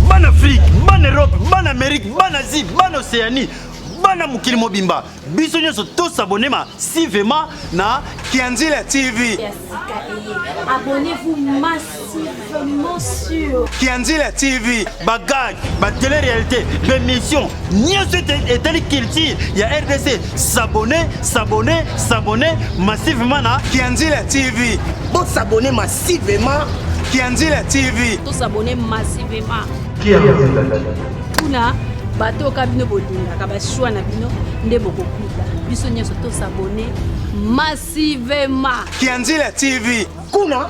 Bana Afrique, bana Europe, bana Amérique, bana Asie, bana Océanie, bana mokili mobimba, biso nyonso tosabone masivema na Kianzila TV. Abonnez-vous Kianzila TV bagage ba télé réalité d'émission nyonso etali culture ya RDC s'abonner s'abonner s'abonner massivement na Kianzila TV bo s'abonner massivement Kianzila TV to s'abonner massivement Kianzila kuna bato oka bino bolingaka bashwa na bino nde bokokuta biso nyonso tosabone massivement kianzila tv kuna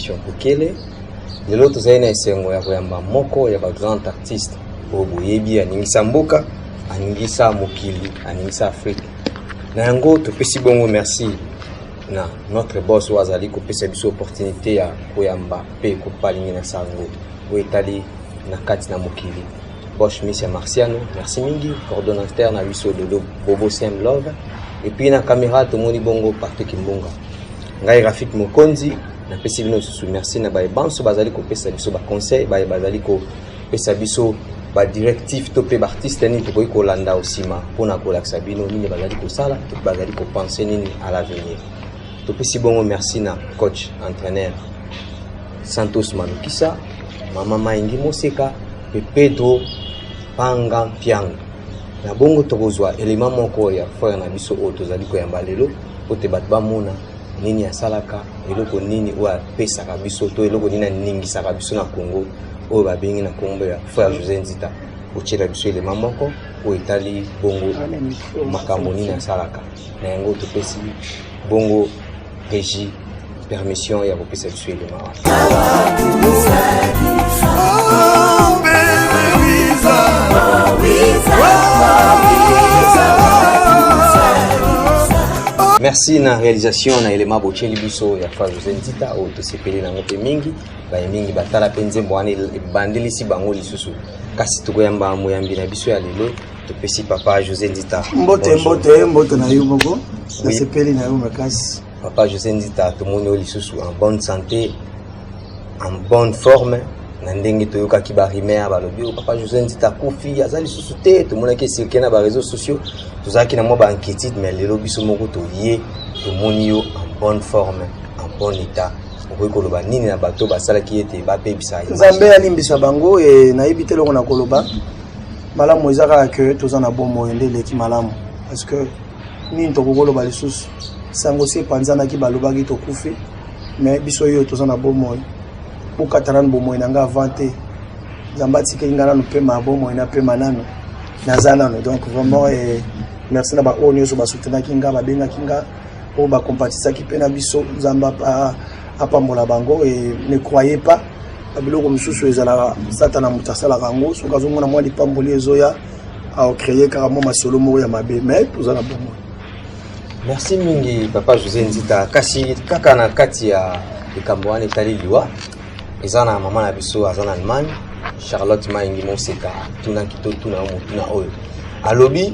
Bokele lelo tozali na esengo ya koyamba moko ya ba grand artiste oyo boyebi aningisa mboka aningisa mokili aningisa afrika na yango topesi bongo merci na notre boss oyo azali kopesa biso opportunité ya koyamba mpe kopalingi na sango oyo etali na kati na mokili Bosch Miss ya Marciano, merci mingi coordonnateur na biso Dodo Bobo Sem Love et puis na camera tomoni bongo partout Kimbunga. Ngai Rafik Mokonzi napesi bino susu merci na baye banso bazali kopesa biso ba conseil baye bazali kopesa biso ba directive to pe ba artiste nini tokoki kolanda osima pona kolakisa bino nini bazali kosala to bazali kopense nini à l'avenir. Topesi bongo merci na coach entraîneur Santos Manukisa, mama Maingi Moseka mpe Pedro Panga Mpianga. Na bongo tokozwa elema moko ya frere na biso oyo tozali koyamba lelo mpo te bato bamona nini asalaka eloko nini oyo apesaka biso to eloko nini aningisaka biso na congo oyo babengi na nkombo ya frère josé nzita otyela biso elema moko oyo etali bongo makambo nini asalaka na yango topesi bongo regie permission ya kopesa biso elima merci na réalisation na elema botyeli biso ya fazoze nzita oyo tosepeli nango mpe mingi baye mingi batala mpe nzembo wana ebandelisi bango lisusu kasi tokoyamba moyambi na biso ya lelo topesi papa josé nzita mbote mbote mbote na yo moko nasepeli na yo makasi papa josé nzita tomoni yo lisusu en bonne santé en bonne forme na ndenge toyokaki barimer balobi oyo oh, papa josé nzita akufi aza lisusu te tomonaki esirkile na bareseau sociaux tozalaki na mwa bainquiétude mais lelo biso moko toye tomoni yo en bonne forme en bon état okoki koloba nini na bato basalaki ete babebisa nzambe alimbisa bango e nayebi te eloko na koloba malamu eza kaka ke toza na bomoi nde eleki malamu parce que nini tokoki koloba lisusu sango si epanzanaki balobaki tokufi mais biso oyo toza na bomoi bokata nanu bomoi na ngai avant te nzambe atikeli ngai nanu mpema ya bomoi na mpema nanu naza nanu donc vraiment eh, merci na baoyo nyonso basutenaki ngai babengaki ngai oyo bakompatisaki mpe na biso nzambe apambola bango e ne croyez pas na biloko mosusu ezalaka satana moto asalaka yango soki azomona mwa lipamboli ezoya aocreye kaka mwa masolo moko ya mabe mai toza na bomoi merci mingi papa josé nzita kasi kaka na kati ya likambo wana etali liwa eza na mama na biso aza na allemagne charlotte maingi moseka tunaki totuna yo motuna oyo alobi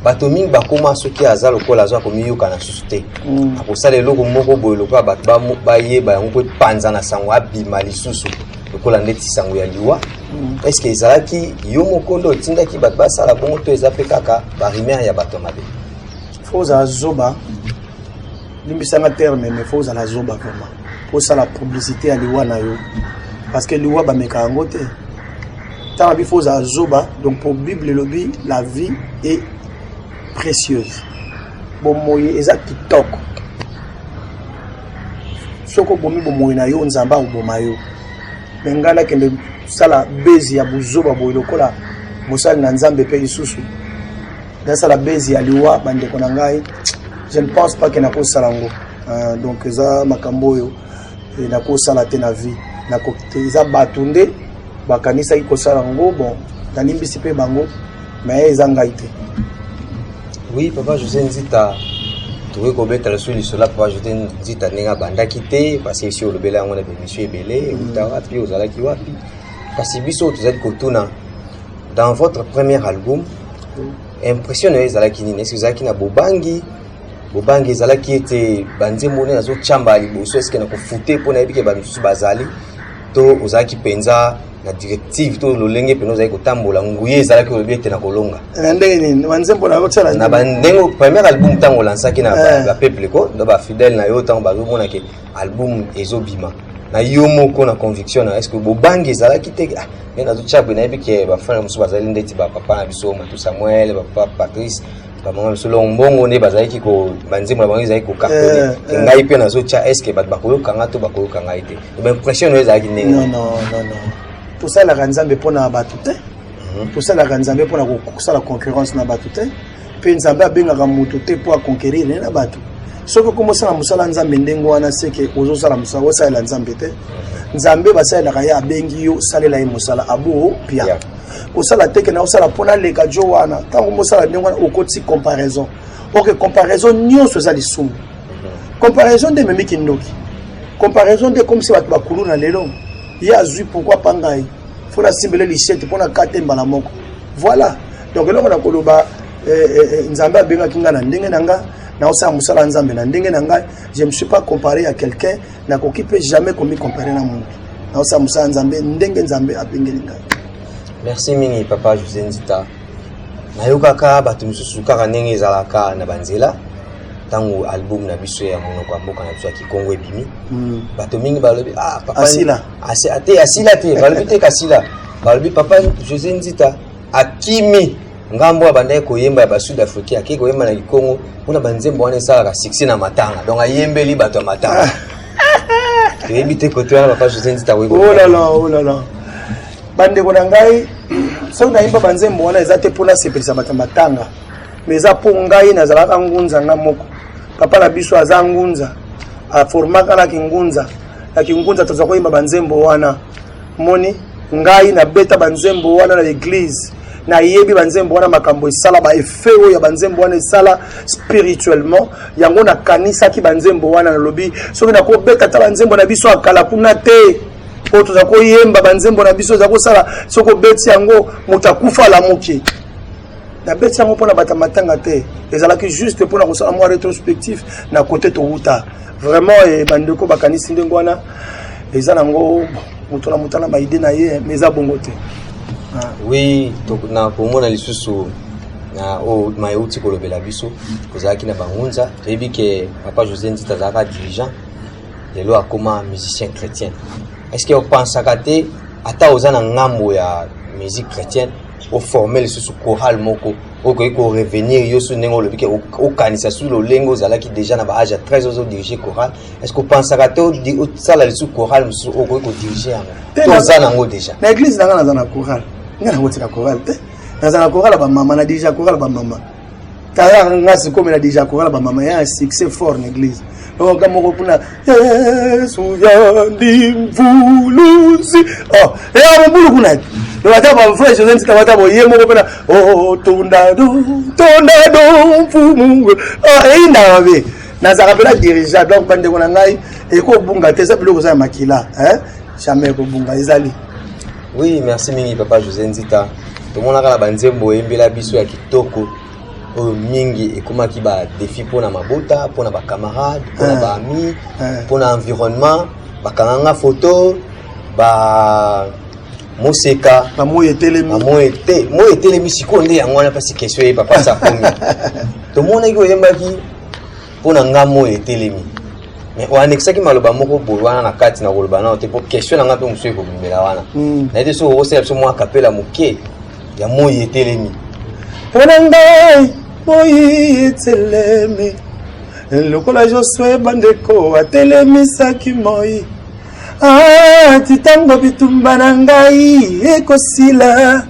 bato mingi bakoma soki aza lokola aza komiyoka na susu te mm. akosala eloko moko boye lokola bato bayeba yango mpo epanza na sango abima lisusu lokola ndeti sango ya liwa mm. est ce ezalaki yo moko nde otindaki bato basala bongo to eza mpe kaka barimere ya bato ya mabe fo ozala zoba limbisanga terme me fo ozala zoba vraiment osala publicité ya liwa na yo parce que liwa bameka yango te tala bi faut ozala zoba donc pour bible elobi la vie est précieuse bomoi eza kitoko soki obomi bomoi na yo nzambe akoboma yo me ngai nakende sala bezi ya buzoba boye lokola mosali na nzambe mpe lisusu nasala bezi ya liwa bandeko na ngai je ne pense pas ke nakosala yango euh, donc eza makambo oyo e nakosala te na vie nako te eza bato nde bakanisaki kosala yango bon nalimbisi mpe bango mais eza ngai te oui papa josé nzita tokoki kobeta lisusu lisolo ya papa josé nzita ndenge abandaki te parce esi olobela yango na bemission ebele euta mm. wapi ozalaki wapi kasi biso tozali kotuna dans votre premier album mm. impression na yo ezalaki nini esi ozalaki na bobangi bobangi ezalaki ete banzembo nde nazotyamba liboso eske nakofute mpo nayebi ke bato mosusu bazali to ozalaki mpenza na directive to lolenge mpenza ozalaki kotambola nguye ezalaki olobi ete nakolonga na ndenge nini banzembo nayotyala na bandenge première album ntango olansaki na eh. bapeuple ko na bafidèle na yo ntango bazomona ke album ezobima na yo moko na conviction na eske bobangi ezalaki te ah, nde nazotya boye nayebi ke bafana mosusu bazali ndeti bapapa na biso matu samuel bapapa patrice kamanga misolo mbongo nde bazalaki ko banzembo na bango ezalaki kokakole Eh, ke eh. ngai mpe nazotya estce bato bakoyoka ngai to bakoyoka ngai te baimpression nayo ezalaki ndenge non nini? non non non tosalaka nzambe mpo na bato te Mhm. tosalaka nzambe mpo na ko- kosala concurrence na bato te mpe nzambe abengaka moto te mpo aconquerir ye na bato soki okomi osala mosala ya nzambe ndenge wana seke ozosala mosala osalela nzambe te nzambe basalelaka ye abengi yo salela ye mosala abo pia Yeah. kosala teke na osala mpo naleka jo wana ntango mosala ndenge wana okotisi comparaison ok comparaison nyonso eza lisumu comparaison nde ememi kindoki comparaison nde ekomisi bato bakulu na lelo ye azwi pourkui pa ngai mpo nasimbele lishete mpo nakate mbala moko voilà donc eloko na koloba eh, eh, eh, nzambe abengaki ngai na ndenge na ngai naosala mosala ya nzambe na ndenge na ngai je me suis pas comparé ya quelqu'un nakoki mpe jamais komicompare na motu naosala mosala nzambe ndenge nzambe abengeli ngai merci mingi papa josé nzita nayokaka bato mosusu kaka ndenge ezalaka na banzela ntango album na biso ya monoko ya mboka na biso ya kikongo ebimi hmm. bato mingi balobi ah, asila te asila te balobi te kasila balobi papa josé nzita akimi ngambo abandaki koyemba ya basud africain akei koyemba na kikongo mpona banzembo wana esalaka succès na matanga donc ayembeli bato ya matanga toyebi te kote wana papa josé nzita olala oh olala oh bandeko na ngai soki nayemba banzembo wana eza te mpo nasepelisa bato ya matanga mais eza mpo ngai nazalaka ngunza nga moko papa na biso aza ngunza aformaka na kingunza na kingunza tozwa koyemba banzembo wana moni ngai nabeta banzembo wana na eglise nayebi banzembo wana makambo esala ba effet oyo ya banzembo wana esala spirituellement yango nakanisaki banzembo wana nalobi soki nakobeta ata banzembo na biso akala kuna te oyo toza koyemba banzembo na biso eza kosala soki obeti yango moto akufa alamuki nabeti yango mpo na bata matanga te ezalaki juste mpo na kosala mwa retrospectif na kote towuta vraiment eh, bandeko bakanisi ndenge wana eza nango moto na moto na baide na ye mais eza bongo te ah. oui na komona lisusu na oyo maye outi kolobela biso kozalaki na bangunza toyebi ke papa josé nzita azalaka dirigeant lelo akoma musicien chrétien est ce que opensaka te ata oza na ngambo ya musique chrétienne oforme lisusu chorale moko oyo okoki korevenir yo su ndenge olobi ke okanisa su lolenge ozalaki déjà na baage ya 13 ozo dirige chorale est ce que opensaka te osala lisusu chorale mosusu oyo okoki kodirige yango to oza nango déjà na église na ngai naza na chorale ngai nakotika chorale te naza na chorale ya bamama na dirige ya chorale ya bamama tala nga sikomela deja korala bamama ya succès fort na église oka moko kuna yesu yandi mvuluzi o oh, eya eh, mobulu kuna donc ata bavrai josé ntika bata boye moko mpena oh, tondado tondado mfumungu oh, eyindaka mabe nazalaka mpena dirigea donc bandeko na ngai ekobunga te eza biloko eza ya makila jamais ekobunga ezali Oui, merci mingi papa José Nzita. Tomonaka na banzembo oyembela biso ya kitoko oyo mingi ekomaki ba défi mpo na mabota mpo na bacamarade mpo na baami mpo na environnement bakanga nga foto ba moseka na moi etelemi na moi ete moi etelemi sikoyo nde yango wana mpasi question ye papa sakomi tomonaki oyembaki mpo na ngai moi etelemi mais oanekisaki maloba moko boye wana na kati na koloba nao te mpo question na ngai mpe mosusu ekobimela wana hmm. naye te soki okosala biso mwa kapela moke ya moi etelemi mpo na ngai moi etelemi lokola josue bandeko atelemisaki moi ati ah, ntango bitumba na ngai ekosila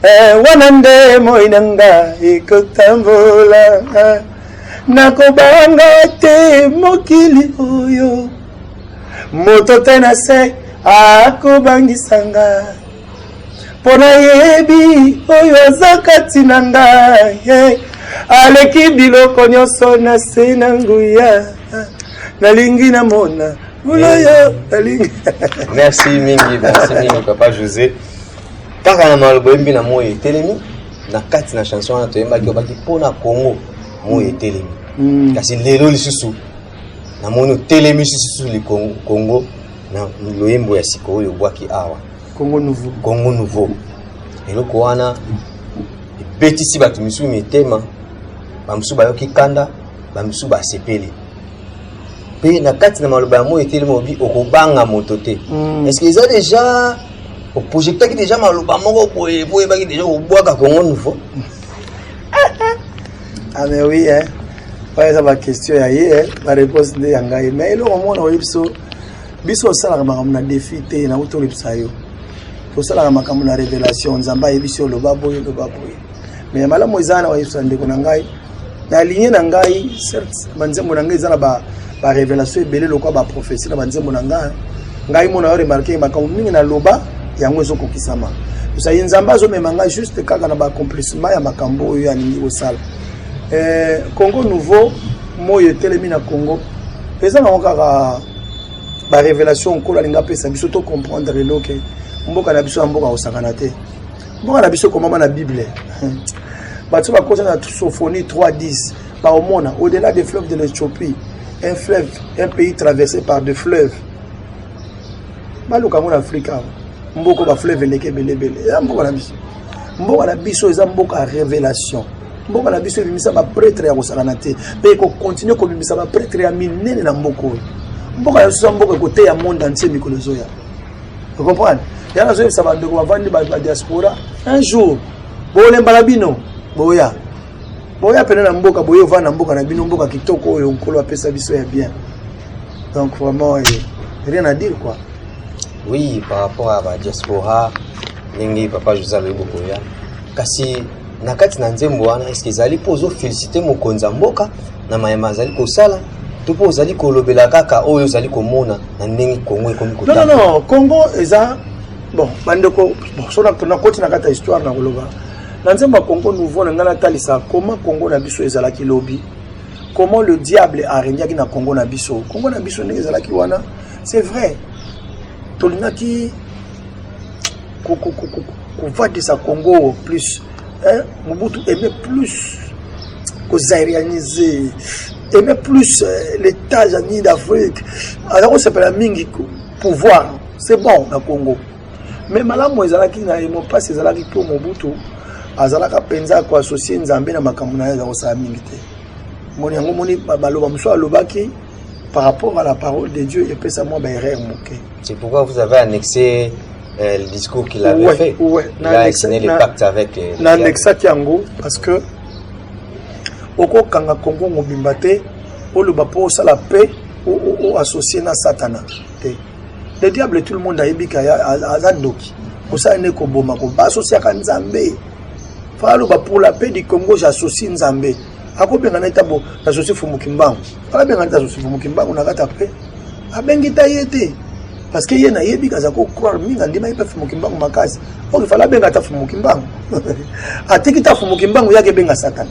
eh, wana nde moi na ngai ekotambola eh. Nakobanga te mokili oyo moto te na se akobangisa nga mpo nayebi oyo aza kati na nga ye aleki biloko nyonso na se na nguya nalingi namona buloyo nalingi merci mingi merci mingi papa josé kaka na maloba oyembi na moi etelemi na kati na chanson wana toyembaki obaki mpo na congo moi etelemi mm. kasi lelo lisusu namoni otelemi lisusu likongo na loyembo ya sika oyo obwaki awa congo nouveau congo nouveau eloko wana ebetisi bato misusu mitema bamosusu bayoki kanda bamosusu basepeli mpe na kati na maloba ya moi etelemi obi okobanga moto te mm. eske eza deja oprojectaki deja maloba moko boye po oyebaki deja kobwaka congo nouveau ah mais oui hein oyo eza baquestion ya ye bareponse nde ya ngai mais eloko moko nakoyebi biso biso osalaka makambo na defi te nauti olobisa yo tosalaka makambo na révélation nzambe ayebisi oloba boye oloba boye mais ya malamu eza na oyebisa ndeko na ngai na ligne na ngai certes banzembo na ngai eza na ba ba révélation ebele lokola ba prophétie na banzembo na ngai ngai mona yo remarquer makambo mingi na loba yango ezokokisama osali nzambe azomema ngai juste kaka na baaccomplissement ya makambo oyo alingi kosala eh, congo nouveau moi etelemi na congo eza nango kaka barévélation nkolo alingi apesa biso to comprendre eloke mboka na biso ya mboka kosakana te mboka na biso ekomama na bible bato bakota na sophonie 310 baomona au-delà des fleuves de l'éthiopie un fleuve un pays traversé par de fleuves baluka yango na afrika awa mboka bafleuve eleki ebelebele eza mboka na biso mboka na biso eza mboka ya révélation mboka na biso ebimisa bapretre ya kosakana te mpe ekokontinue kobimisa bapretre ya minene na mboka oyo mboka na biso eza mboka ekoteya monde antie mikolo ezoya Vous comprenez Ya nazo yebisa ba ndeko bavandi ba diaspora un jour bolemba na bino boya boya pene na mboka boye ovanda na mboka na bino mboka kitoko oyo nkolo apesa biso ya bien donc vraiment eh, rien à dire quoi oui par rapport à ba diaspora ndenge papa josé alobi bokoya kasi na kati na nzembo wana eske ezali mpo ozofelisite mokonzi ya mboka na mayema azali kosala to mpo ozali kolobela kaka oyo ozali komona na ndenge kongo ekomi non, non, non. kongo eza bon bandeko bon, so nakoti na kati ya histoire na koloba na nzembo ya kongo nouveau na ngai natalisa koma kongo na biso ezalaki lobi comment le diable aregnaki na kongo na biso kongo na biso ndenge ezalaki wana c'est vrai tolingaki kovandisa congo plus eh, mobutu aime plus kozairianise aime plus eh, l'état ya nini d'afrique aza kosepela mingi pouvoir c'est bon na congo mais malamu ezalaki na ye mopasi ezalaki mpo mobutu azalaka mpenza koassocie nzambe na makambo na ye aza kosala mingi te moni yango moni baloba mosusu alobaki par rapport à la parole de Dieu, il peut savoir des erreurs moquées. C'est pourquoi vous avez annexé euh, le discours qu'il avait ouais, fait. Ouais. Il a annexé les pactes avec les. Il a annexé Kiango parce que oko kanga Congo mobimba te oloba mpo osala paix oassocie na satana te le diable tout le monde ayebi ke aza ndoki osala nde koboma koba asosiaka nzambe faa aloba pour la paix du congo j'associe nzambe akobengana ye ntango na joseph mokimbangu abengana ta joseph mokimbangu na kati apres abengi ta ye te parce que ye nayebi aza kocroire mingi andimaki mpe fumu kimbangu makasi oyo ifala abenga ata fumu kimbangu atiki ta fumu kimbangu yaki ebenga satana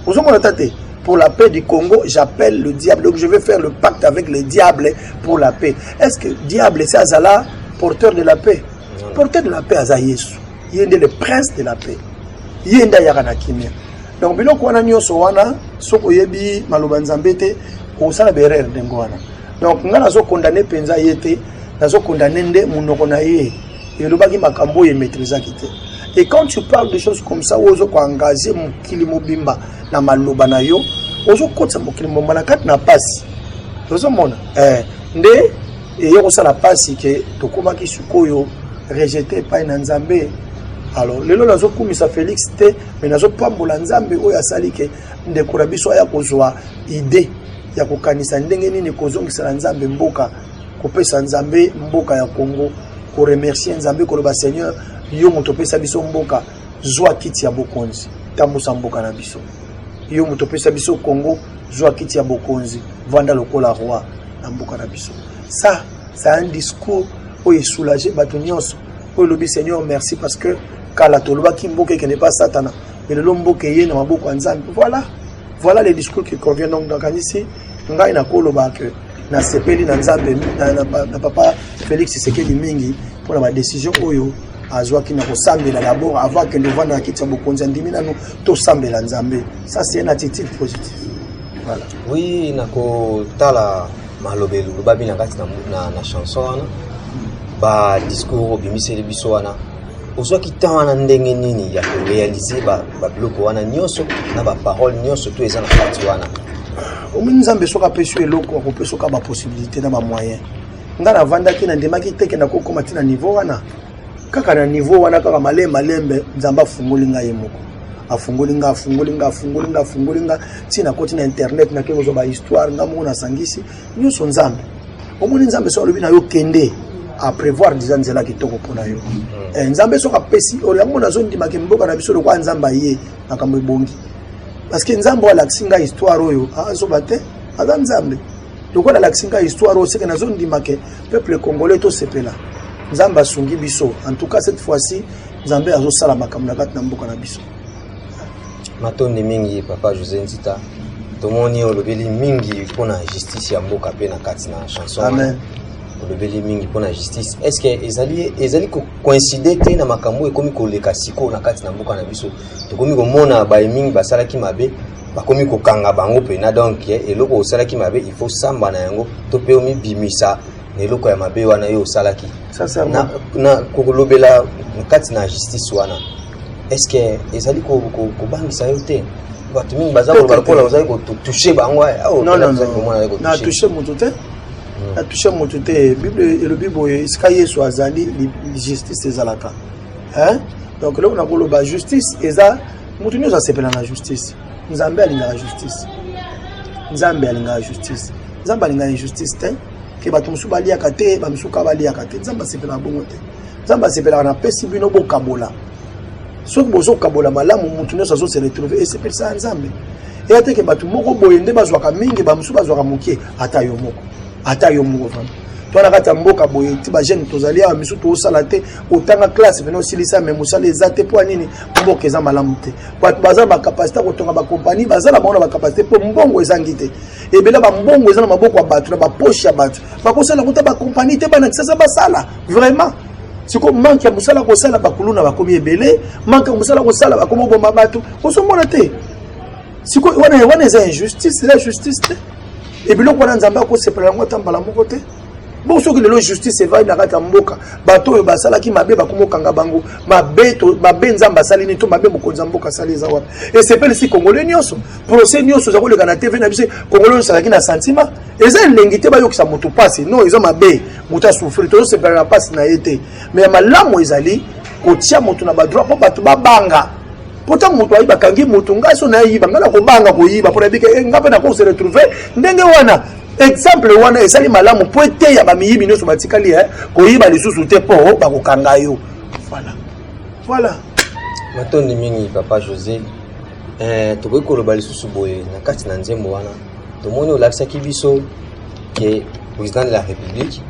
ozomona ta te pour la paix du Congo, j'appelle le diable. Donc je vais faire le pacte avec le diable pour la paix. Est-ce que diable, c'est Azala, porteur de la paix Porteur de la paix, Aza Yesu. Il est le prince de la paix. Il est là, il y a donc biloko wana nyonso wana soki oyebi maloba nzambe te okosala berere ndenge wana donc ngai nazokondane mpenza ye te nazokondane nde monoko na ye elobaki makambo oyo emetrizaki te et quand tu parles de choses comme ça oyo ozokoengage mokili mobimba na maloba na yo ozokotisa mokili mobimba na kati na mpasi tozomona eh, nde eye kosala mpasi ke tokomaki sikoyo rejete epai na nzambe alors lelo nazokumisa félix te mais nazo pambola nzambe oyo asali ke ndeko na biso aya kozwa idee ya kokanisa ndenge nini kozongisela nzambe mboka kopesa nzambe mboka ya congo koremercie nzambe koloba seigneur yo moto opesa biso mboka zwa kiti ya bokonzi tambusa mboka na biso yo moto opesa biso congo zwa kiti ya bokonzi vanda lokola roi na mboka na biso sa sa un discours oyo esoulage bato nyonso oyo elobi seigneur merci parce que kala tolobaki mboka ekende pa satana mais lelo mboka eye na maboko ya nzambe voilà voilà les discours qui convient donc nakanisi ngai nakoloba que nasepeli na nzambe na, na, na papa félix sekedi mingi mpo na badesizio oyo azwaki na kosambela dabord avant akende ovanda na kiti ya bokonzi andimi nanu tosambela nzambe ça c'est une attitude positive voilà. oui nakotala maloba elobami na kati na, na, na chanson wana badiscours obimiseli biso wana ozwaki temps wana ndenge nini ya korealize babiloko wana nyonso na baparole nyonso to eza na kati wana omoni nzambe soki apesi yo eloko akopesa oka bapossibilité na bamoyen ngai navandaki nandimaki te ke nakokoma ntina niveau wana kaka na niveau wana kaka male malembe nzambe afungoli ngai ye moko afungoli nga afungoli nga afungoli nga afungoli nga ntina koti na internet nakei kozwa bahistoire ngai moko nasangisi nyonso nzambe omoni nzambe soki alobi na yo kende aprévoir deja nzela kitoko mpo na yo mm. eh, nzambe soki apesi oyo yango nazondimaka mboka na biso lokola nzambe aye makambo ebongi parce que nzambe oyo alakisi ngai histoire oyo azoba te aza nzambe lokola alakisi ngai histoire oyo seke nazondimaka peuple congolais tosepela nzambe asungi biso en tout cas cette fois-ci nzambe azosala makambo na kati na mboka na biso matondi mingi papa josé nzita tomoni olobeli mingi mpo na justice ya mboka mpe na kati na chanson Amen. olobeli mingi mpo na justice est ce que ezali, ezali kocoincide te na makambo oyo ekomi koleka sikoyo na kati na mboka na biso tokomi komona baye mingi basalaki mabe bakomi kokanga bango mpena donc eh, eloko osalaki mabe il faut samba na yango to mpe omibimisa na eloko ya mabe wana yo osalaki na, na kolobela kati na justice wana est-ce que ezali kobangisa yo te bato mingi baza koloba lokola ozali kotouche bango eh, oh, na touche moto te hmm. na touche moto te bible elobi boye esika yesu azali justice ezalaka donc eloko na koloba justice eza moto nyonso asepela na justice nzambe alingaka justice nzambe alingaka justice nzambe alingaka injustice te ke bato mosusu baliaka te bamisusu kaka baliaka te nzambe asepelaka bongo te nzambe asepelaka napesi bino bokabola soki bozokabola malamu motu nyonso azose retrouve esepelisa ya nzambe eya teke bato moko boye nde bazwaka mingi bamosusu bazwaka moke ata yo moko ata yo moko vraimen to na kati ya mboka boye ti bajeune tozali awa misu tosala te otanga classe pene osilisa me mosala eza te mpo nini mboka eza malamu te bato baza na bacapacité ya kotonga bakompani baza na bango na bacapacité mpo mbongo ezangi te ebele ba mbongo eza na maboko ya bato na bapoche ya bato bakosala kuta bakompani te bana kisasa basala vraiment sikoyo manke ya mosala kosala bakuluna bakomi ebele manke ya mosala kosala bakomi oboma bato ozomona te sikoyo wana wana eza injustice eza justice te ebiloko wana nzambe akosepela yango ata mbala moko te bon soki lelo justice evandi na kati ya mboka bato oyo basalaki mabe bakomi okanga bango mabe nzambe asali nini to mabe mokonzi ya mboka asali eza wapi esepelisi kongole nyonso procès nyonso eza koleka na tv na biso kongolo nyonso azalaki na sentiment eza elengi te bayokisa moto mpasi non eza mabe moto asufri tozosepela na mpasi na ye te mai ya malamu ezali kotia moto na badroit mpo bato babanga mpo ntango moto ayi bakangi moto ngai so nayiba ngai nakobanga koyiba mpo nayebike eh, ngai mpe nakose retrouve ndenge wana exemple wana ezali malamu mpo eteya bamiyibi nyonso batikali eh, koyiba lisusu te mpo oh, bakokanga yo voilà voilà matondi mingi papa josé Eh, tokoki koloba lisusu boye na kati na nzembo wana tomoni olakisaki biso ke président de la république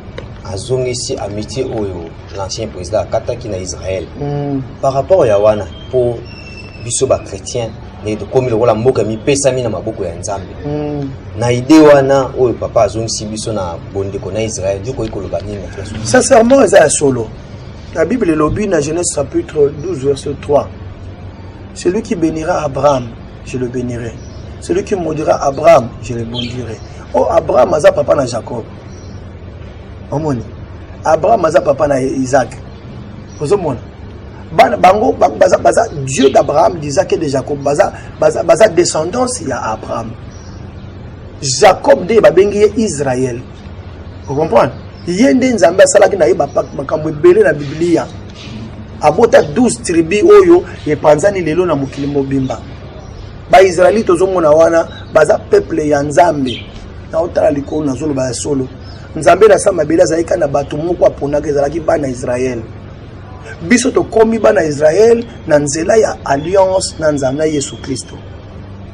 azongisi amitié oyo l'ancien président akataki na israël mm. par rapport ya wana mpo biso bachrétien ndenge tokomi lokola mboka mipesami na maboko ya nzambe mm. na ide wana oyo papa azongisi biso na bondeko na israel yokoki koloba nini sincèrement eza ya solo la bible elobi na genèse chapitre 12 verset 3 Celui qui benira Abraham, je le benirai. Celui qui maudira Abraham, je le maudirai. Oh, Abraham aza papa na Jacob. Omoni. Abraham aza papa na Isaac. Ozomona. Bana bango baza baza Dieu d'Abraham, d'Isaac et de Jacob. Baza baza baza descendance ya Abraham. Jacob de babengi ye Israël. okomprendre ye nde nzambe asalaki na ye makambo ebele na biblia abota 12 tribu oyo epanzani lelo na mokili mobimba baisraeli tozomona wana baza peuple ya nzambe naotala likolo nazoloba ya solo nzambe na sa mabele azalaki kaka na bato moko aponaka ezalaki bana israele biso tokomi bana israele na nzela ya alliance na nzambe na yesu kristo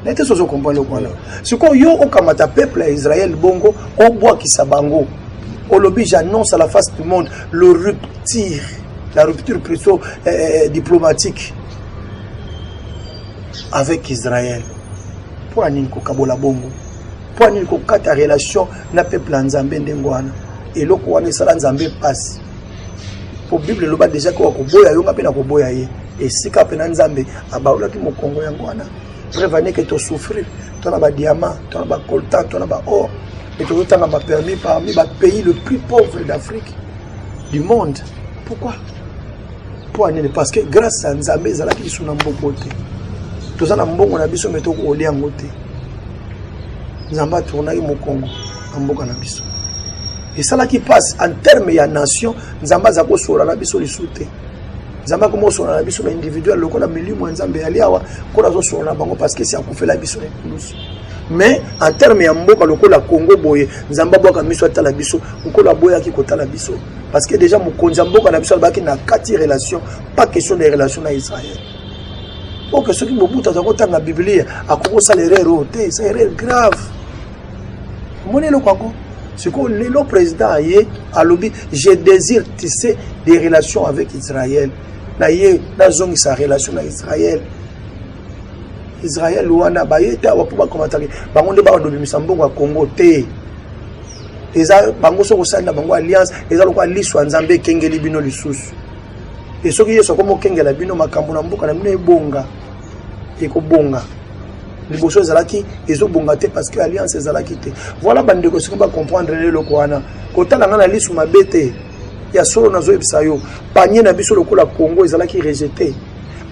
na te sozo comprendre eloko wana sikoyo yo okamata peuple ya israel bongo obwakisa bango olobi j'annonce à la face du monde le rupture la rupture plutôt euh, euh, diplomatique avec israel mpo ya nini kokabola bongo mpo ya nini kokata relation na peuple ya nzambe ndenge wana eloko wana esala nzambe mpasi mpo bible eloba deja koka koboya yo nga mpe na koboya ye esika mpe na nzambe abaolaki mokongo yango wana preuve ane ke tosouffrir to na badiamant to na bacoltan to na baor e tozotanga bapermis parmi bapays le plus pauvre d'afrique du monde pourquoi mpo anini parce que grâce ya nzambe ezalaki lisu na mboko te toza na mbongo na biso me tokolia yango te nzambe atournaki mokongo na mboka na biso esalaki mpasi en terme ya nation nzambe aza kosola na biso lisu te nzambe akoma kosola na biso na individuel lokola milimo ya nzambe yali awa nkolo azosola na bango parce que esi akufela biso na ekulusu mais en terme ya mboka lokola congo boye nzambe abwaka miso atala biso nkolo aboyaki kotala biso parce que déjà mokonzi ya mboka na biso alobaki na kati relation pas question de relation na israel oke soki mobutu aza kotanga biblia akoki kosala erreur oyo te esa erreur grave omoni eloko yango sikoyo lelo président aye alobi je désire tisser des relations avec israël na ye nazongisa relation na israël israël wana baye te awa mpo bakomataki bango nde bawa dobimisa mbongo ya congo te eza bango soki osalela bango alliance eza lokola liso ya nzambe ekengeli bino lisusu e soki yesu akomi okengela bino makambo na mboka na bino ebonga ekobonga liboso ezalaki ezobonga te parce que alliance ezalaki te voilà bandeko soki bacomprendre eloko wana kotala ngai na lisu mabe te ya solo nazoyebisa yo panie na biso lokola congo ezalaki rejete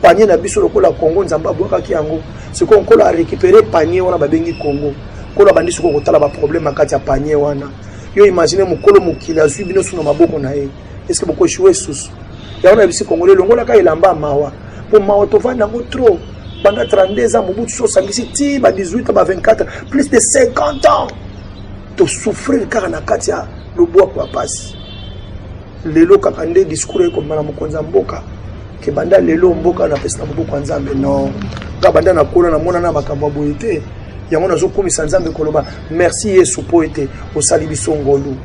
panie na biso lokola congo nzambe abwakaki yango sikoyo nkolo arécupere panie wana babengi congo nkolo abandi sikoyo kotala baproblème na kati ya panie wana yo imagine mokolo mokili azwi bino so na maboko na ye est ce que boko echoue susu yango na bisi congolais longolaka elamba mawa po mawa tovanda yango trop banda 32 ans mobutu so osangisi ti ba 18 ans ba 24 plus de 50 ans tosouffrir kaka na kati ya lobwaku ya mpasi lelo kaka nde discours ekomba na mokonzi ya mboka ke banda lelo mboka napesi na maboko ya nzambe no nga banda nakola namona na makambo ya boye te yango nazokumisa nzambe koloba merci yesu mpo ete osali biso ngolu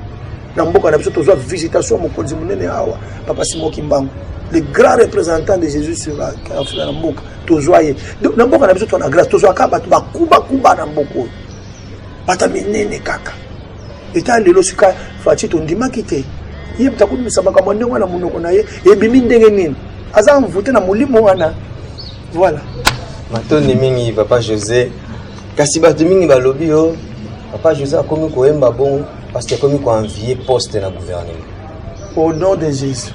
na mboka na biso tozwa visitation mokonzi monene awa papa simon kimbangu le grand représentant de jésus sur la na mboka tozwa ye na mboka na biso tona grâce tozwaka bato bakubakuba na mboka oyo bata minene kaka eta lelo sika faci tondimaki te ye moto akobimisa makambo ndenge wana monoko na ye ebimi ndenge nini aza mvute na molimo wana voilà matondi mingi papa josé kasi bato mingi balobi yo papa josé akomi koyemba bongo Parce que akomi ko envier poste na gouvernement. Au nom de Jésus.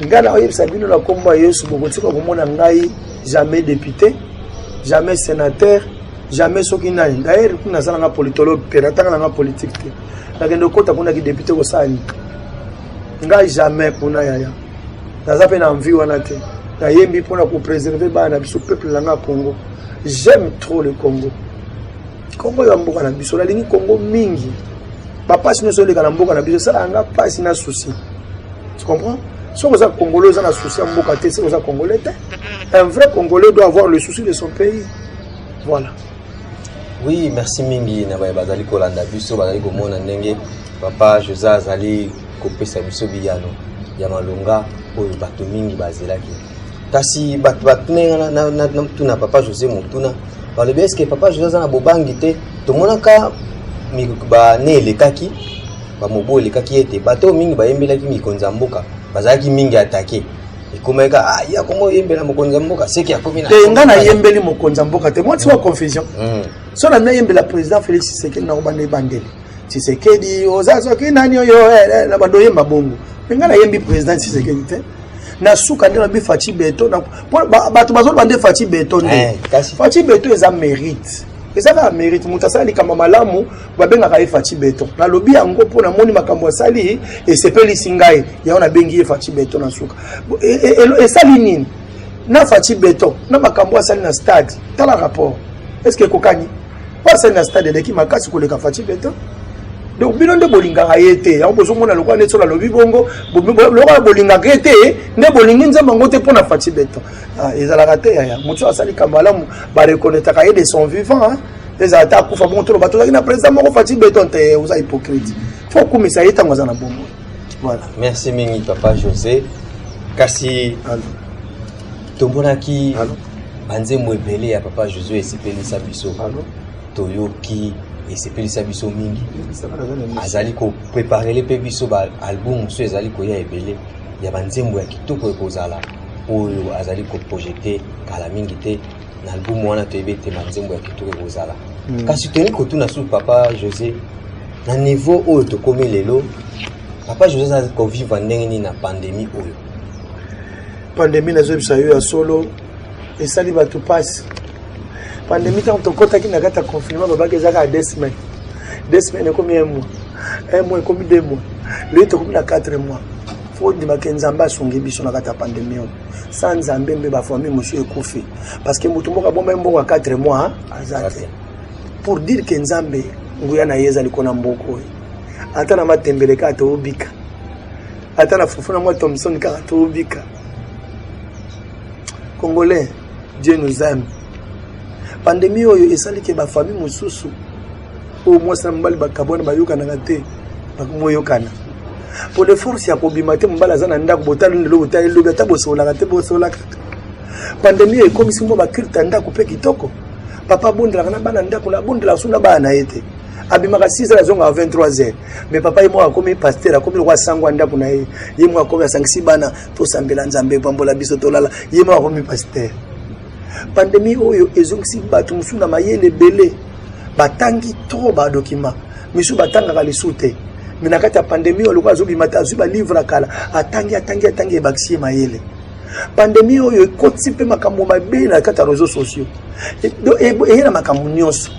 ngai nakoyebisa bino na nkombo ya yesu bokotika komona ngai jamais député jamais sénateur jamais soki nani d'ailleurs kuna naza nanga politologue te natanga nanga politique te nakende okota kuna kidepute kosala nini ngai jamais kuna yaya naza mpe na envie wana te nayembi mpo na kopréserve bana na biso peuple na ngai ya congo j'aime trop le congo congo ya mboka na biso nalingi congo mingi bapasi nyonso oleka na mboka na biso esala yanga mpasi na souci tu comprends soki oza congolais oza na souci ya mboka te soki oza congolais te un vrai congolais doit avoir le souci de son pays voilà oui merci mingi na baye bazali kolanda biso bazali komona ndenge papa josé azali kopesa biso biyano ya malonga oyo bato mingi bazelaki kasi bato batuna ye nga na- na- na- natuna papa josé motuna balobi eske papa josé aza na bobangi te tomonaka mi- bane elekaki bamobu elekaki ete bato oyo mingi bayembelaki mikonzi ya mboka bazalaki mingi atake ekomaki ka ah, ye akoma oyembela mokonzi ya mboka seki akomi na te nga nayembeli mokonzi ya mboka te mwa ntima confusion Mm. so na nayembela président félix tshisekedi nakobanda ebandeli Tshisekedi oza soki nani oyo eh, eh, eh, na bando yemba bongo me ngai nayembi président Tshisekedi te na suka nde nabi faci beton bato bazoloba nde faci beton nde faci beton eza mérite eza kaka mérite moto asala likambo malamu babengaka ye faci beton nalobi yango mpo namoni makambo asali esepelisi ngai yango nabengi ye faci beton na suka e, e, e, esali nini na faci beton na makambo asali na stade tala rapport est ce que ekokani Pasa na stade eleki makasi koleka Fatih Beton. Donc bino nde bolingaka ye te. Yango bozomona lokola neti alobi bongo, lokola bolingaka ye te, nde bolingi nzambe yango te mpo na Fatih Beton. Ah, ezalaka te yaya. Moto asali kamalamu ba reconnaîtraka ye de son vivant. Hein? Ezala ata akufa bongo toloba tozalaki na président moko Fatih Beton te, eh, oza hypocrite. Faut okumisa ye ntango aza na bongo. Voilà. Merci mingi papa José. Kasi Allô. tomonaki Allô. banzembo ebele ya papa josue esepelisa biso toyoki esepelisa biso mingi azali kopreparele mpe biso baalbum mosusu ezali koya ebele ya banzembo ya kitoko ekozala oyo azali koprojete kala mingi te na album wana toyebi ete banzembo ya kitoko ekozala hmm. kasi toyei kotuna su papa josé na niveau oyo tokomi lelo papa josé azali kovivre ndenge nini na pandemie oyo Pandemie nazobisa yo ya solo esali bato mpasi. Pandemie ntango tokotaki na kati ya confinement babaki eza kaka deux semaines. Deux semaines ekomi un mois. Un mois ekomi deux mois. Lelo tokomi na quatre mois. Faut ndima ke Nzambe asungi biso na kati ya pandemie oyo. Sans Nzambe mbe ba famille mosusu ekufi. Parce que moto moko abomba mbongo ya 4 mois aza te. Pour dire que Nzambe nguya na ye ezali kona mboko oyo. Ata na matembele kaka tobika. ata na fufu na mwa thomson kaka tobika congolais dieu nous aime pandemi oyo esali ke bafamille mosusu oyo mwasi na mobali bakabwana bayokanaka te bakomoyokana mpo de force ya kobima te mobali aza na ndako botali lelo botali lobi ata bosolaka te bosola kaka pandemi ekomisi mwa bakrita ndako mpe kitoko papa abondelaka na bana ndako na abondelaka so na bana na ye te abimaka 6 heures azongaka 23 heures mais papa ye moko akomi pasteur akomi lokola sango ya ndako na ye ye moko akomi asangisi bana tosambela nzambe pambola biso tolala ye moko akomi pasteur pandemi oyo ezongisi bato mosusu na mayele ebele batangi trop badokima misusu batangaka lisusu te me na kati ya pandemi oyo lokola azobima te azwi balivre ya kala atangi atangi atangi ebakisi ye mayele pandemi oyo ekotisi mpe makambo mabe na kati ya réseau sociaux eye na makambo nyonso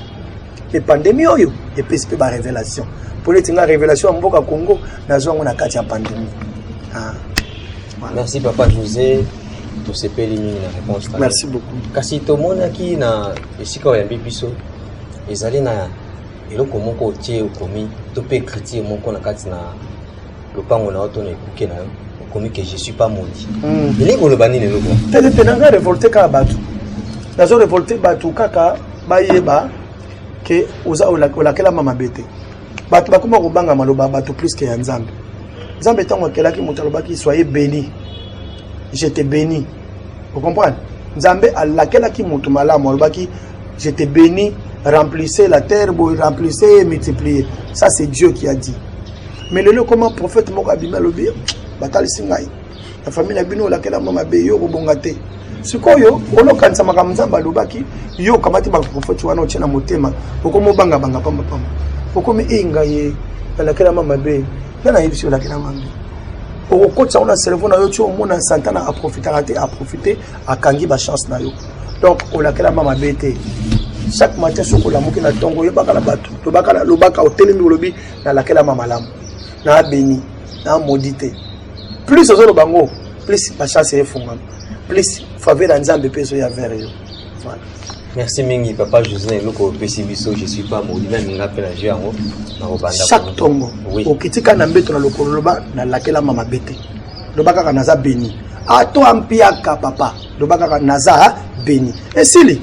mpe pandemi oyo epesi mpe barevelation mpo neti nga revelation ya mboka congo nazwa yango na kati ya pandemi ah. merci papa josé tosepeli mingi na réponse merci beaucoup kasi tomonaki na esika oyambi biso ezali na eloko moko otie okomi to mpe écriture moko na kati na lopango na yo to na ekuke na yo okomi ke je suis pas maudit hmm. elingi koloba nini eloko telete na ngai revolte kaka bato nazo revolte bato kaka bayeba ke oza olakelama mabe te bato bakoma kobanga maloba bato plus ke ya nzambe nzambe ntango akelaki moto alobaki soye beni je te beni ocomprendre nzambe alakelaki moto malamu alobaki je te beni remplissez la terre boye remplissez ye multiplier ça c'est dieu qui a dit mais lelo ekoma prophète moko abimi alobi batalisi ngai na famille na bino olakela mwa mabe yo okobonga te sikoyo olokanisa makambo nzambe alobaki yo okamati baprofeti wana otye na motema okomi obangabanga pambapamba okomi ei ngai ye nalakelama mabe nde nayebisi yo olakela mabe okokotisa yango na cerveau na yo ti omona santana aprofitaka te aprofite akangi bachance na yo donc olakelama mabe te chaque matin soki olamuki na ntongo oyebaka na bato lobaka otelemi olobi nalakelama malamu na beni na modi te plus ozoloba yango plus bachance efungama plus faveur ya nzambe mpe ezoya vere yo voilà merci mingi papa josé na eloko opesi biso je suis pas modi na minga mpe na jeu yango nakobanda chaque tongo oui. okitika na mbeto na lokolo loba nalakelama mabe te loba kaka naza beni ato ah, ampiaka papa loba kaka naza beni esili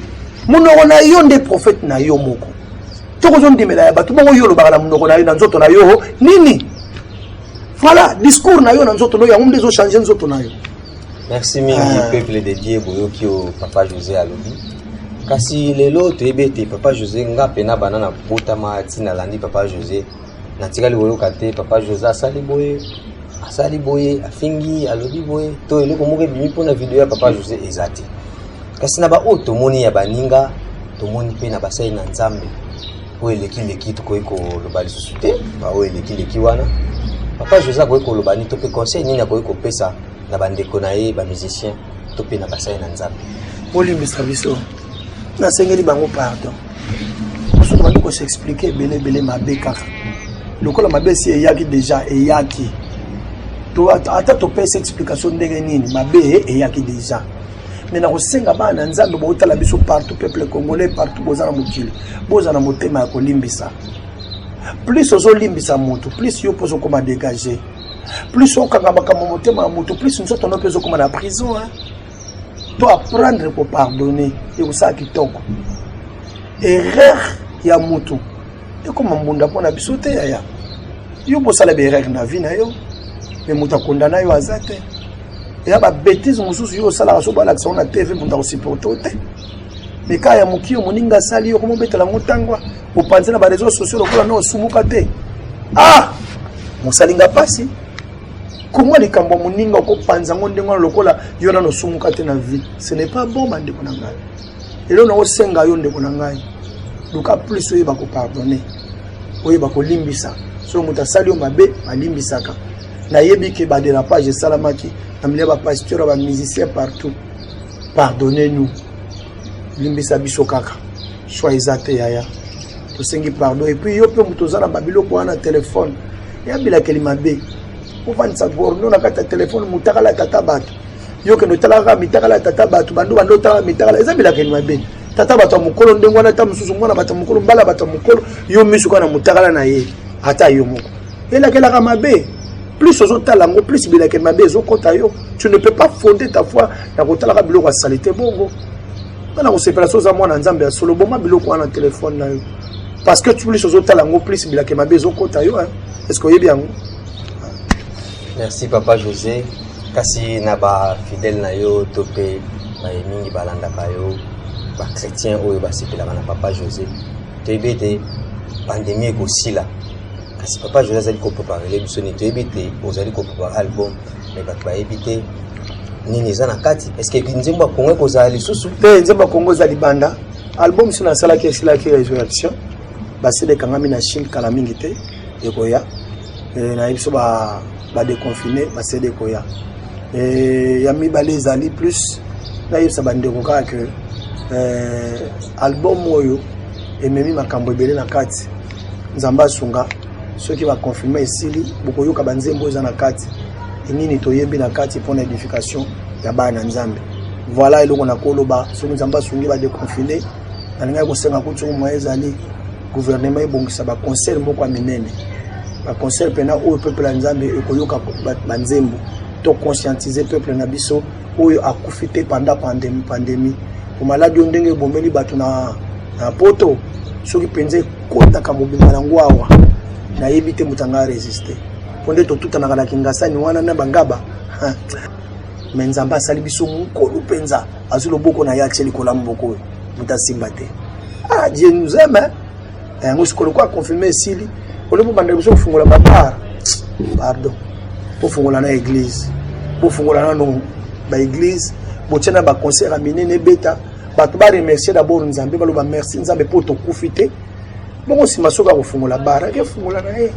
monoko na yo nde prophète na yo moko Toko zo ndimela ya batu bongo yo olobaka na munoko na yo na nzoto na yo nini? Voilà, discours na yo na nzoto na yo yango nde ezo changer nzoto na yo. Merci mingi ah. peuple de Dieu boyoki o papa José alobi. Kasi lelo toyebi ete papa José nga pena bana na botama ti nalandi papa José natikali koyoka te papa José asali boye asali boye afingi alobi boye to eloko moko ebimi mpo na video ya papa José eza te. Kasi na baoyo tomoni ya baninga, tomoni mpe na basali na Nzambe oyo elekileki, tokoki koloba lisusu te baoyo elekileki wana. Papa José akoki koloba nini to mpe conseil nini akoki kopesa na bandeko na ye bamusicien to mpe na basali na Nzambe? Bolimbisa biso, nasengeli bango pardon mosusu bandi kosexplike ebele ebele mabe kaka lokola mabe esi eyaki deja eyaki ata topesi explication ndenge nini mabe eyaki deja mais nakosenga bana na nzambe botala biso partout peuple congolais partout boza na mokili boza na motema ya kolimbisa plus ozolimbisa motu plus yo mpo ozokoma dégage plus okanga makambo motema ya motu plus nzoto no mpe ezokoma na prison hein? to apprendre kopardonne ekosala kitoko erreur ya motu ekoma mbunda mpo na biso te yaya yo bosala baerreur na vie na yo me moto akondana yo aza te eya ba bêtise mosusu yo osalaka so balakisa ngo na tv moto akosupporte o te mais kaka ya moki yo moninga asali yo koma obetela yango ntango opanzi na bareseau sociaux lokola na osumuka te ah mosalinga mpasi koma likambo ya moninga okopanza yango ndenge wana lokola yo nano osumuka te na vie ce n'est pas bon bandeko na ngai lelo nakosenga yo ndeko na ngai luka plus oyeba kopardonne oyeba kolimbisa soki moto asali yo mabe balimbisaka nayebi ke baderapage esalamaki na milia bapasteur ya bamusicien partout pardonne nous limbisa biso kaka soi eza te yaya tosengi pardon epuis yo mpe moto oza na babiloko wana telefone ya bilakeli mabe ofandisa gorno na kati ya telefone motakala tata bato yo kende otalaka mitakala ya tata bato bando bando otalaka mitakala eza bilakeli mabe tata bato ya mokolo ndenge wana ata mosusu mwana bato ya mokolo mbala bato ya mokolo yo miso kaka na motakala na ye ata yo moko elakelaka mabe plus ozotala yango plus bilakeli mabe ezokɔta yo tu ne peux pas fonde ta foi na kotalaka biloko ya salite bongo nga na kosepela so oza mwana nzambe ya solo boma biloko wana na telefone na yo parce que plus ozotala yango plus bilakeli mabe ezokɔta yo est ce que oyebi yango merci papa josé kasi na ba fidèle na yo to mpe baye mingi balandaka yo bachrétien oyo basepelaka na papa josé toyebi ete pandemi ekosila kasi papa josé azali kopreparele biso nini toyebi ete ozali koprepare album me bato bayebi te nini eza na kati eske nzembo ya kongo ekozala lisusu te nzembo ya kongo eza libanda album so nasalaki esilaki resurrection basili ekangami na chine kala mingi te ekoya eh, nayebi so badeconfine ba basede ekoya eh, ya mibale ezali plus nayebisa bandeko kaka ke eh, album oyo ememi makambo ebele na kati nzambe asunga soki baconfirme esili bokoyoka banzembo eza na kati nini toyebi na kati mpo na edification ya bana na nzambe voilà eloko nakoloba soki nzambe asungi badeconfine nalingaki kosenga kutu moye ezali guvernema ebongisa baconcert moko ya minene baconcert mpena oyo peuple ya nzambe ekoyoka banzembo to conscientize peuple na biso oyo akufi te panda pandemi omaladi oyo ndenge ebomeli bato na poto soki mpenza ekotaka mobimba yango awa nayebi te moto anga resiste mpo nde totutanaka na kingasani wana na bangaba me nzambe asali biso mokolo mpenza azwi loboko na ye atie likolo ya moboko oyo moto asimba te ah dieu nous aime hein? Eh, yango sikoyo lokola confirme esili oleki obanda liboso kofungola babar pardon bofungola na église bofungola nano baéglise botia na baconcert ya minene ebeta bato baremercie d'abord nzambe baloba merci nzambe mpo tokufi te bongo nsima soki akofungola bar ake fungola na ye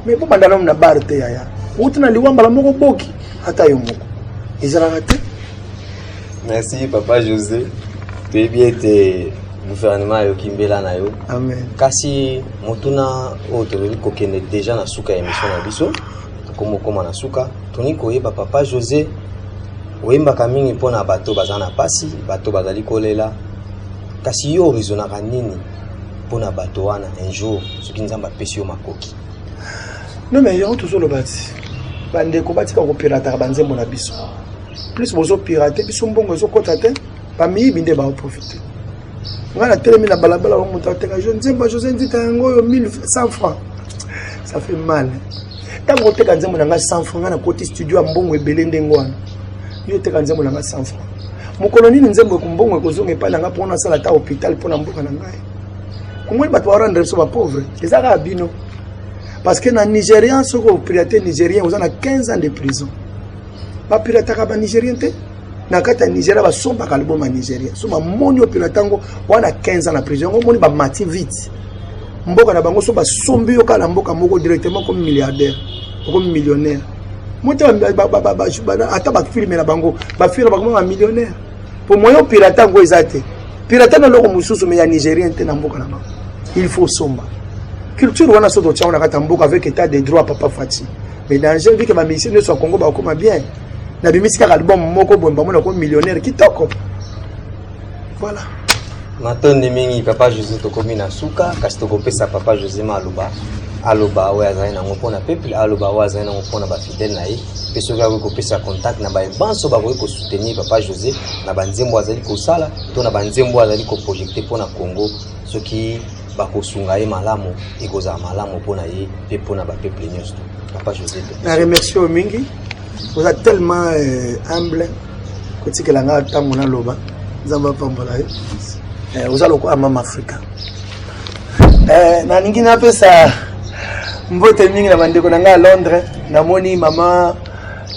mais bobanda nano na bar te yaya outi na liwa mbala moko boki ata yo moko ezalaka te Merci papa José. Toyebi ete gouvernement ayoki mbela na yo. Amen. Kasi motuna oyo tozali kokende deja na suka ya emission na biso komokoma na suka toni koyeba papa José oyembaka mingi mpo na bato baza na mpasi bato bazali kolela kasi yo orizonaka nini mpo na bato wana un jour soki nzambe apesi yo makoki no me yango tozoloba ti bandeko batika kopelataka banzembo na biso plus bozo pirate biso mbongo ezokota te bamiyibi nde baoprofite ngai natelemi na balabala wa moto ateka jo nzembo ya josé nzita yango oyo 1100 franc ça fait mal ntango oteka nzembo na ngai 100 franc ngai nakoti studio ya mbongo ebele ndenge wana yo oteka nzembo na ngai 100 franc mokolo nini nzembo ekombongo ekozonga epai na ngai mpo nasala ata hôpital mpo na mboka na ngai komoni bato barendre biso bapauvre eza kaka bino parce que na nigérian soki opirate nigérien oza na 15 ans de prison ba pirataka ba nigérien te na kati ya nigeria basombaka album ya nigeria so bamoni opela ntango wana 15 ans na prison yango omoni bamati vite mboka na bango so basombi yo kaka na mboka moko directement comme milliardaire okomi millionnaire ata bafilme na bango bafilme na bango ba millionnaire po moyen opilata yango eza te pilata na eloko mosusu me ya nigérien te na mboka na bango il faut somba culture wana so totiango na kati ya mboka avec état de droit papa fati mais danger vu que ba musiciens nyoso ya Congo ba koma bien na bimisi kaka album moko boye ba mona ko millionnaire kitoko voilà matondi mingi papa José tokomi na suka kasi tokopesa papa José Maluba aloba oyo azali nango mpo na peuple aloba oyo azali nango mpo na bafidele na ye mpe soki akoki kopesa contact na baye banso bakoki kosoutenir papa josé na banzembo azali kosala to na banzembo azali koprojekte mpo na congo soki bakosunga ye malamu ekozala malamu mpo na ye mpe mpo na bapeuple nyonso papa josé na remercie oyo mingi oza tellement euh, humble kotikela ngai ntango naloba nzambe apambola ye euh, oza lokola mama afrika euh, nalingi napesa mbote mingi na bandeko na ngai ya londres namoni mama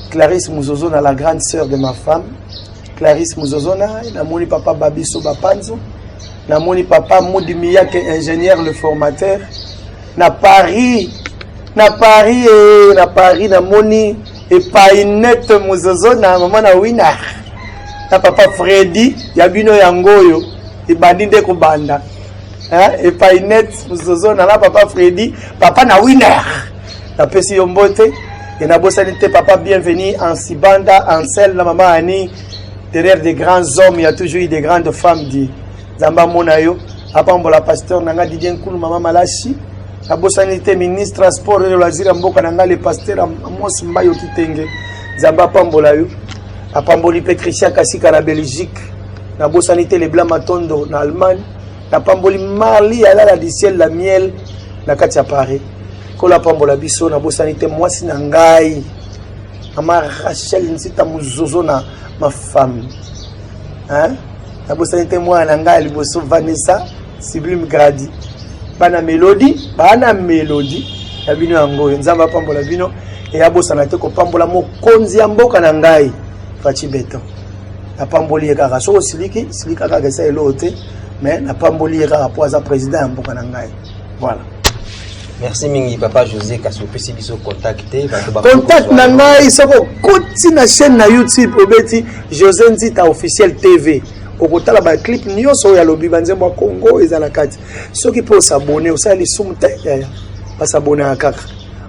clarisse muzozo na la grande sœur de ma femme Clarisse Muzozona, namoni papa Babiso Bapanzo, namoni papa Mudi Miyake ingénieur le formateur na Paris na Paris eh, na Paris namoni epai net Muzozona mama na Winner na papa Freddy ya bino yango oyo ebandi nde kobanda hein, epai net zozo nala papa fredi papa na winner napesi yo mbote e nabosani te papa bienvenu en sibanda en sel na mama ani derrière des grands hommes il y a toujours eu des grandes femmes di nzambe amona yo apambola pasteur na ngai didie nkulu mama malashi nabosani te ministre ya sport elo aziri ya mboka na ngai le pasteur amos mbayo kitenge nzambe apambola yo apamboli mpe christian kasika na belgique nabosani te lebla matondo na allemagne na pamboli marli ya lala du ciel la miel na kati ya paris nkolo apambola biso nabosani te mwasi na ngai mama rachel nsita mozozo na mafami nabosani te mwana na ngai ya liboso vanessa sublime gradi bana melodi bana melodi ya bino yango oyo nzambe apambola bino eyabosana te kopambola mokonzi ya mboka na ngai faci beton napamboli ye kaka soki osiliki silika kaka esa eloo te mais napamboli ye kaka mpo aza président ya mboka na ngai voilà merci mingi papa josé kasi opesi biso contact te contact na ngai soki okoti na chaîne na youtube obeti josé nzita officiel tv okotala baclip nyonso oyo alobi banzembo ya congo eza na kati soki mpe osabone osala lisumu te yaya basabonaka kaka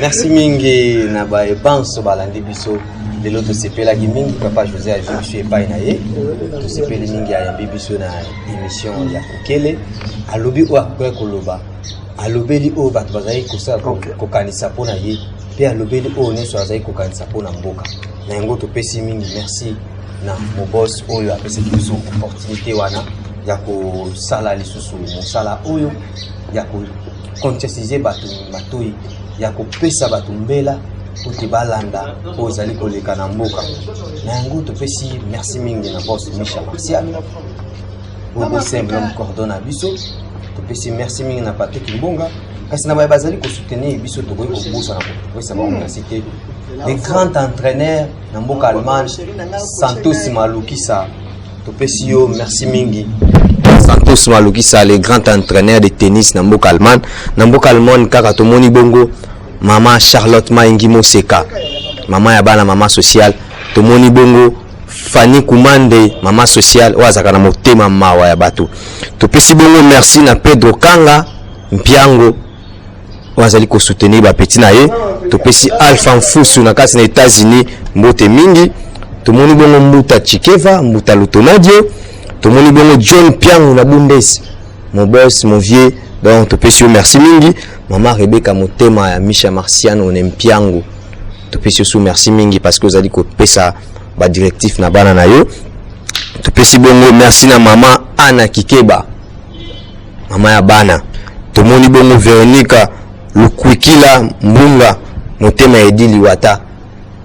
Merci mingi na baye banso balandi biso lelo tosepelaki mingi papa josé azwi biso epai na ye tosepeli mingi ayambi biso na émission ya kokele alobi oyo akoya koloba alobeli oyo bato bazali kosala kokanisa mpo na ye mpe alobeli oyo nyonso azali kokanisa mpo na mboka na yango topesi mingi merci na mobos oyo apesaki biso opportunité wana ya kosala lisusu mosala oyo ya conscientiser bato matoyi ya kopesa bato mbela ete balanda oyo ezali koleka na mboka na yango topesi merci mingi na bos misha martial oyo bosemble mokordon na biso topesi merci mingi na patrik mbonga kasi na baye bazali kosoutenir biso tokoki kobosana kopesa bango hmm. merci te le grand entraîneur na mboka allemagne santos malukisa topesi yo merci mingi santos malukisa le grand entraîneur de tennis na mboka allemagne na mboka allemagne kaka tomoni bongo mama charlotte maingi moseka mama ya bana mama sociale tomoni bongo fani kumande mama sociale oyo azalaka na motema mawa ya bato topesi bongo merci na pedro kanga mpiango oyo azali kosoutenir bapeti na ye topesi alpha mfusu na kati na états-unis mbote mingi tomoni bongo mbuta chikeva mbuta lutonadio tomoni bongo john piangu na bundes mon boss mon vieux donc topesi yo merci mingi mama rebeka motema ya misha marciano ne mpiangu topesi yo su merci mingi parce que ozali kopesa badirectif na bana na yo topesi bongo merci na mama ana kikeba Mama ya bana tomoni bongo Veronica Lukwikila Mbunga motema ya Edi Liwata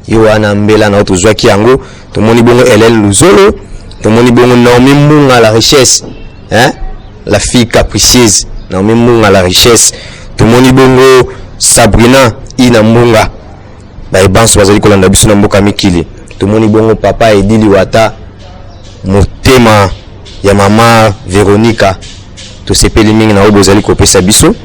yo wana mbela na yo tozwaki yango tomoni bongo Helen Luzolo tomoni bongo Naomi Mbunga la richesse hein? la fille capricieuse Naomi Mbunga la richesse tomoni bongo Sabrina Ina Mbunga baye banso bazali kolanda biso na mboka mikili tomoni bongo papa edi liwata motema ya mama veronika tosepeli mingi na oyo bozali kopesa biso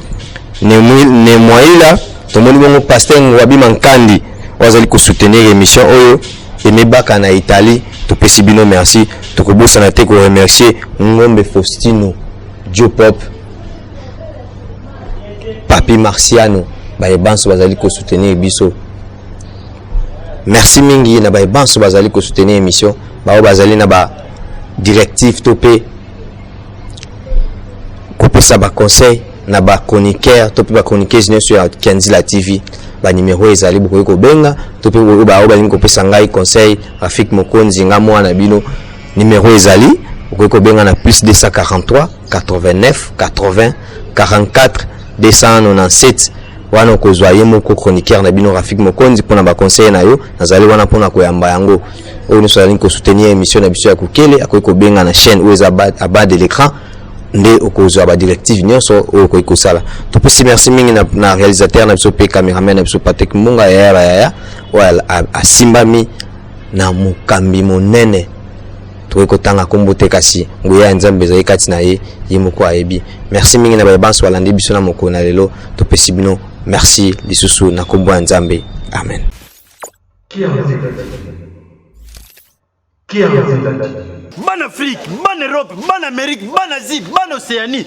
nemwaila tomoni bongo paster ngwabima nkandi oyo azali kosoutenir émission oyo emebaka na italie topesi bino merci tokobosana te koremercier ngombe faustino diopop papi marciano baye banso bazali kosoutenir biso merci mingi na baye banso bazali kosoutenir émission baoyo bazali na ba directive to mpe kopesa baconseil na bachroniqueur to mpe bachroniqueuse nyonso ya kanzila tv banimero oyo ezali bokoki kobenga to mpe oyo baoyo balingi kopesa ngai conseil rafik mokonzi nga mwana bino Numero ezali okoki kobenga na plus 243 89 80 44 297 wana okozwa ye moko chroniqueur na bino rafik mokonzi mpona baconseil na yo nazali wana mpona koyamba yango oyo nyonso azali kosoutenir émission na biso ya kokele akoki kobenga na chaîne oyo eza abas de l'écran nde okozwa badirective nyonso oyo okoki kosala topesi merci mingi na, na réalisateur na biso mpe cameraman na biso patrick mbunga yaya bayaya oyo asimbami na mokambi monene tokoki kotanga nkombo te kasi nguya ya nzambe ezali kati na ye ye moko ayebi merci mingi na baye banso balandi biso na mokolo na lelo topesi bino merci lisusu na nkombo ya nzambe amen bana afrique bana europe bana amerique bana asie bana océanie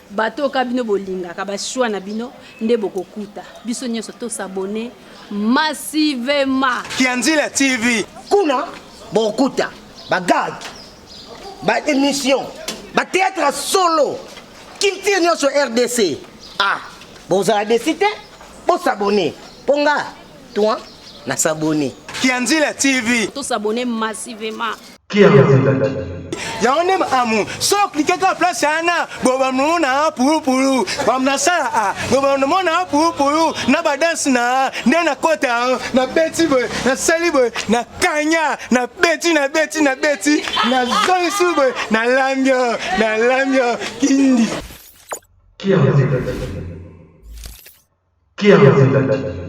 Bato oyo ka bino bolingaka ba choix na bino nde bokokuta. Biso nyonso to s'abonner massivement. Kianzila TV. Kuna bokuta ba gag, ba emission, ba theatre ya solo, culture nyonso RDC. Ah, bozala desi te, bo s'abonner. Po nga, toi, na s'abonner. Kianzila TV. To s'abonner massivement. Qui a envie d'être yango nde amu so oklike kaka place wana bobamona pulupulu bamnasala a bobamona pulupulu na badanse na nde nakota nabeti boye nasali boye na kanya nabeti nabeti nabeti nazongisi boye nalambi nalambi kindi Qui a envie d'être Qui a envie d'être